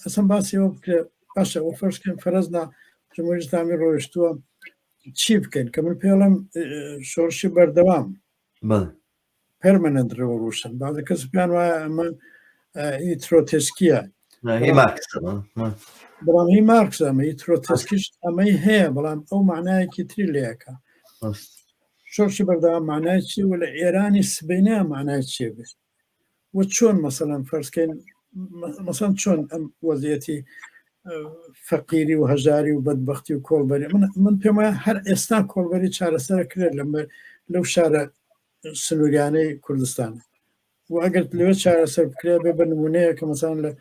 ئەسم باسیەوە بکرێ باشە ئەو فەرشکەن فەرزنا جمهوری ئسلامی ڕۆیشتووە چی بکەین کە من پێڵم شۆرشی بەردەوام پەرمەنەنت ڕێوەڕوسن بازە کەس پێیان وایە ئەمە ئی ترۆتسکیە بەڵام هی مارکس ئەمە ئی ترۆتسکیش ئەمەی هەیە بەڵام ئەو معنایەکی تری لەکە شۆرشی بەردەوام معنای چی و لە ئێرانی سبینە معنای چێ بێت وە چۆن مەسەلەن فەرزکەین مەسەن چۆن ئەم وەزیەتی فەقیری و هەژاری و بەدبختی و کۆڵبەری من من پێم وایە هەر ئێستا کۆڵبەری چارەسەر کرێت لە لەو شارە سنووریانەی کوردستان و ئەگەر لەوێ چارەسەر بکرێت بێ بە نمونەیە کە مەسان لە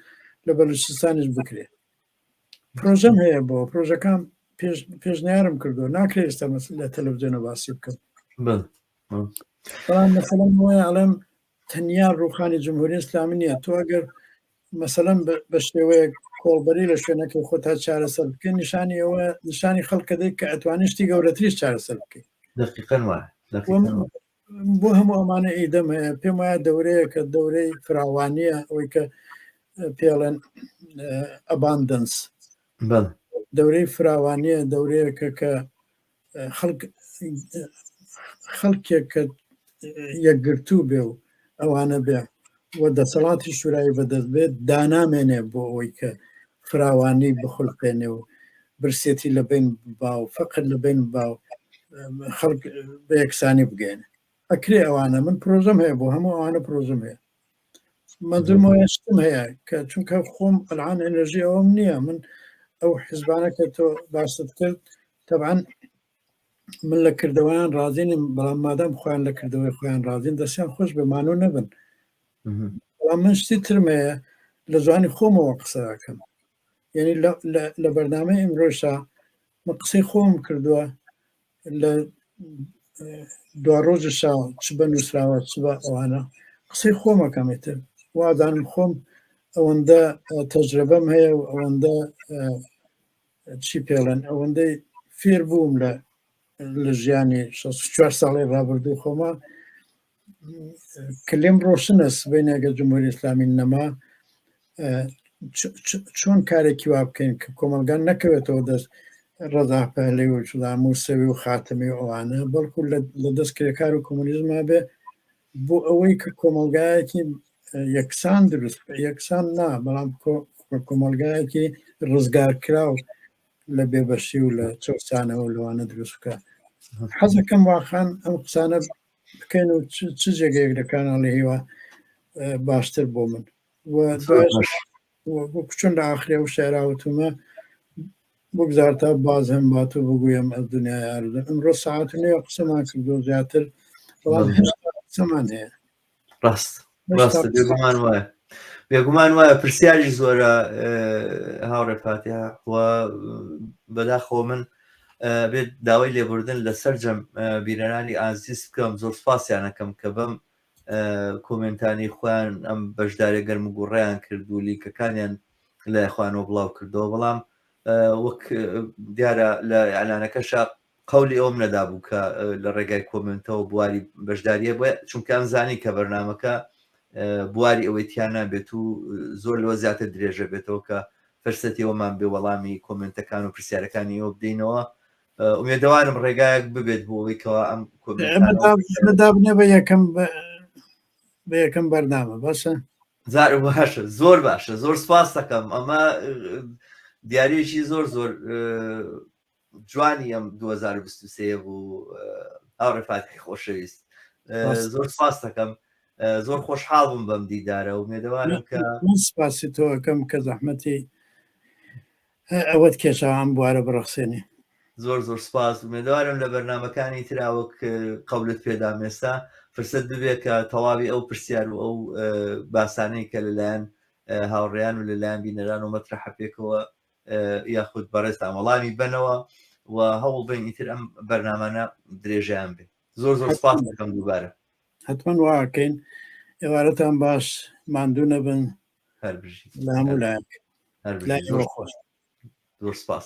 لە بەلوچستانیش بکرێت پرۆژەم هەیە بۆ پرۆژەکان پێشنیارم کردو ناکرێت ئێستا لە تەلەڤزیۆنە باسی بکەم بەڵام مەسەڵم وایە ئەڵێم تەنیا ڕوخانی جمهوری ئیسلامی نییە تۆ ئەگەر مەسەلەن بە شێوەیەک کۆڵبەری لە شوێنەکەی خۆ تا چارەسەر بکەین نیشانی ئەوە نیشانی خەڵکە دەی کە ئەتوانی شتی گەورەتریش چارەسەر بکەین دقیقەن وایە بۆ هەموو ئەمانە ئیدەم هەیە پێم وایە دەورەیە کە دەورەی فراوانیە ئەوەی کە پێڵێن ئەباندنس دەورەی فراوانیە دەورەیەکە کە خەڵکێک کە یەکگرتوو بێ و ئەوانە بێ و دەسەڵاتی شورای بەدەست بێت دانامێنێ بۆ ئەوەی کە فراوانی بخولقێنێ و برسێتی لە بین با و فەقر لە بین با و خەڵک بە یەکسانی بگەێنێ ئەکرێ ئەوانە من پرۆژم هەیە بۆ هەموو ئەوانە پرۆژم هەیە مەدرم شتم هەیە کە چونکە خۆم ئەلان ئەنرژی ئەوم نییە من ئەو حزبانە کە تۆ باست کرد تەبان من لە کردەوەیان ڕازینم بەڵام مادەم خۆیان لە کردەوەی خۆیان ڕازین دەستیان خۆش بەمان و نەبن بەڵام من شتی ترمەیە لە زوانی خۆمەوە قسەکەم یعنی لە بەرنامە ئمرۆشا من قسەی خۆم کردووە لە دو ڕۆژە شا چ بە نووسراوە چ بە ئەوانە قسەی خۆمەکەمێتر وادانم خۆم ئەوەندە تەجرەبەم هەیە و ئەوەندە چی پێڵێن ئەوەندەی فێر بووم لە لە ژیانی 64 ساڵی ڕابردوو خۆمە کلیم ڕۆشنە سبەی ناگە جمهوری ئسلامی نەما چۆن کارێکی وا بکەین کە کۆمەلگان نەکەوێتەوە دەست ڕەزا پەلەی و شدام و سەوی و خاتمی ئەوانە بەڵکو لە دەست کرێکار و کۆمونیزما بێ بۆ ئەوەی کە کۆمەلگایەکی یەکسان دروست یەکسان نا بەڵام کۆمەلگایەکی ڕزگار کراو لە بێبەشی و لە چەسانەوە لەوانە دروستکە حەزەکەم واخان ئەم قسانە بکەن و چ جێگەیەک لە کاناڵی هیوا باشتر بۆ من بۆ کوچن لە ئاخرێ و شعراوتمە بگذار تا باز هەم بات و بگویم ئەو دنیای ئاردن ئەمڕۆ ساعت نوێ قسەمان کردو زیاتر بەڵام هێشتا قسەمان هەیە ڕاست ڕاستە بێگومان وایە بێگومان وایە پرسیاری زۆرە هاوڕێ فاتیا و بەداخۆ من بێت داوای لێبوردن لە سەررجەم بیرەرانی ئازیز بکەم زۆر سپاسیانەکەم کە بەم کۆمنتانی خۆیان ئەم بەشدارە گەرم و گوڕیان کرد و لیکەکانیان لای خوانەوە بڵاو کردەوە بەڵام وەک دیارە لە ئەلانەکەشە قەولی ئەوەم نەدابوو کە لە ڕێگای کۆمنتەوە بواری بەشداریە بە چونکە ئەم زانی کە بەرنمەکە بواری ئەوەی تیانە بێت و زۆر لەوە زیاتر درێژە بێتەوە کە فرسەتەوەمان بێ وەڵامی کۆمنتەکان و پرسیارەکانی ئەوە بدەینەوە ئومێدەوارم ڕێگایەک ببێت بۆ ئەوەی کەوا ئەم کۆمنتدابنێ بە یەکەم بە یەکەم بەردامە باشە زار باشە زۆر باشە زۆر سپاس دەکەم ئەمە دیارێکی زۆر زۆر جوانی ئەم 2023 بوو ئەو ڕفاتی خۆشەویست زۆر سپاس دەکەم زۆر خۆشحاڵ بووم بەم دیدارە و مێدەوارم کە سپاسی تۆکەم کە زەحمەتی ئەوەت کێشەوان بوارە بڕەخسێنی زۆر زۆر سپاس مێدوارم لە بەرنمەکانی تراوەک قەولت پێدام ئێستا فرسەت ببێت کە تەواوی ئەو پرسیار و ئەو باسانەی کە لەلایەن هاوڕێیان و لەلایەن بینەران و مەترحە پێکەوە یاخود بەڕێزتان وەڵامی بەنەوە و هەوڵ بین ئیتر ئەم بەرنامانە درێژیان بێ زۆر زۆر سپاس دەکەم دووبارە حتمما واکەین ئێوارەتان باش ماندوو نەبن هەر بژی لە هەموو لایەک لای خۆش زۆر سپاس